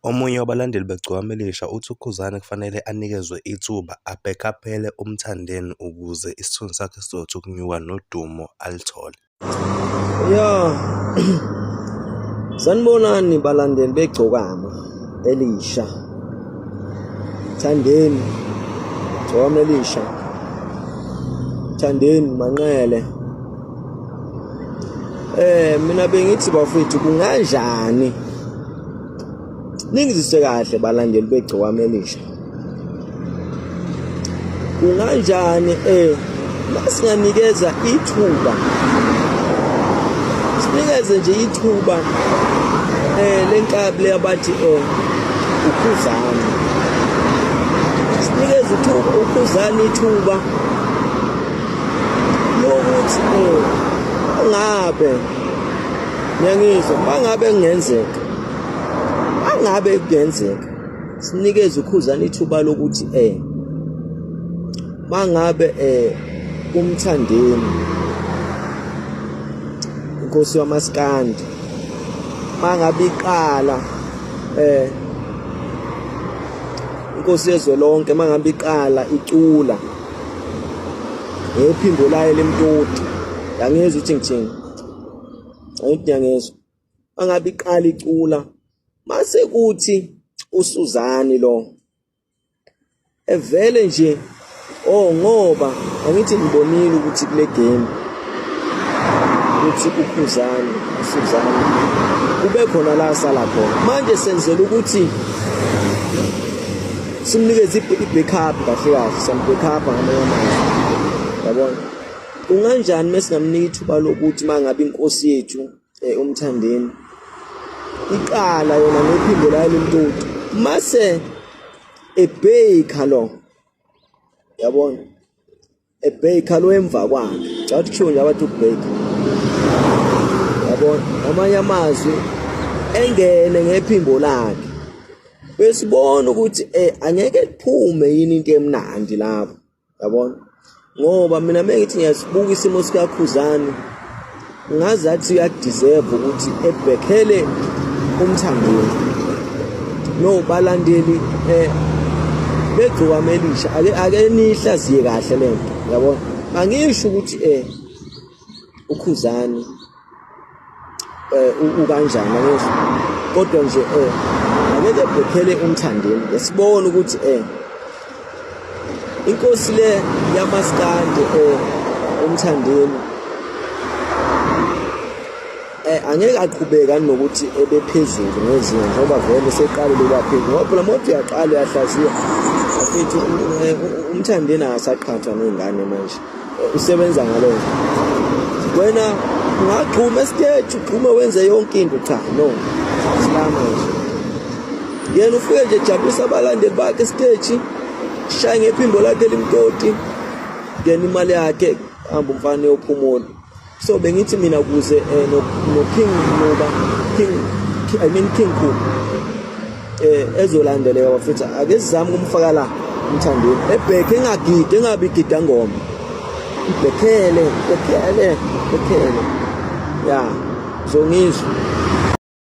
Omunye wabalandeli beGcokama Elisha uthi uKhuzani kufanele anikezwe ithuba abhekhaphele uMthandeni ukuze isithunzi sakhe sizothi ukunyuka nodumo aluthole. Sanibonani balandeli beGcokama Elisha. Thandeni Gcokama Elisha. Thandeni Manqele. Eh mina bengithi bafethu kunganjani Ningizise kahle balandeli begcokama elisha. Kunganjani eh masinganikeza ithuba sinikeze nje ithuba eh lenkabi leyabathi eh ukhuzana sinikeze ithuba ukhuzana ithuba lokuthi eh ngabe Ngiyangizwa mangabe kungenzeka. Angabe kungenzeka. Sinikeze ukhuzana ithuba lokuthi eh mangabe eh umthandeni inkosi yamaskandi mangabe iqala eh inkosi yezwe lonke mangabe iqala icula ngephimbo layo lemtoti yangezwa ukuthi ngithini ayikudangezwa angabe iqala icula mase kuthi usuzani lo evele nje oh ngoba angithi ngibonile ukuthi kule game ukuthi ukhuzani usuzani kube khona la sala khona manje senzela ukuthi simnikeze i-backup kahle kahle sambackup ngamanye amazwi yabona Kunganjani mesingamnika ithuba lokuthi mangabe inkosi yethu eh, umthandeni iqala yona nephinde layile mtoti mase ebheyikha lo yabona ebheyikha lo emva kwakhe cathi kusho nje abathi ukubheyikha yabona amanye amazwi engene ngephimbo lakhe besibona ukuthi eh angeke kuphume yini into emnandi lapho yabona ngoba mina mengithi ngiyasibuka isimo sikakhuzane ngazi athi uyadeserve ukuthi ebhekhele umthangweni no balandeli eh begcokama elisha ake ake nihlaziye kahle lento yabona angisho ukuthi eh ukhuzani um ukanjani akezo kodwa nje um angeke bhephele umthandeni esibona ukuthi um inkosi le yamaskande um umthandeni Eh, angeke aqhubeka nokuthi ebephezulu ngezinga ngoba vele seqalile kwaphezulu ngoba phela mothi uyaqala uyahlaziya afithi eh, umthandeni akasaqhathwa nezingane manje usebenza ngalo wena ungagxuma esiteji ugxume wenze yonke into cha no silama nje yena ufike nje jabulisa abalandeli bakhe esiteji shaye ngephimbo lakhe elimtoti ngena imali yakhe hamba umfana yophumula so bengithi mina ukuze eh, no, no king ngoba king i mean king ku eh ezolandeleka bafethu ake sizame kumfaka la umthandeni ebheke engagidi engabi gida ngoma ibhekele ibhekele ibhekele ya zongizwe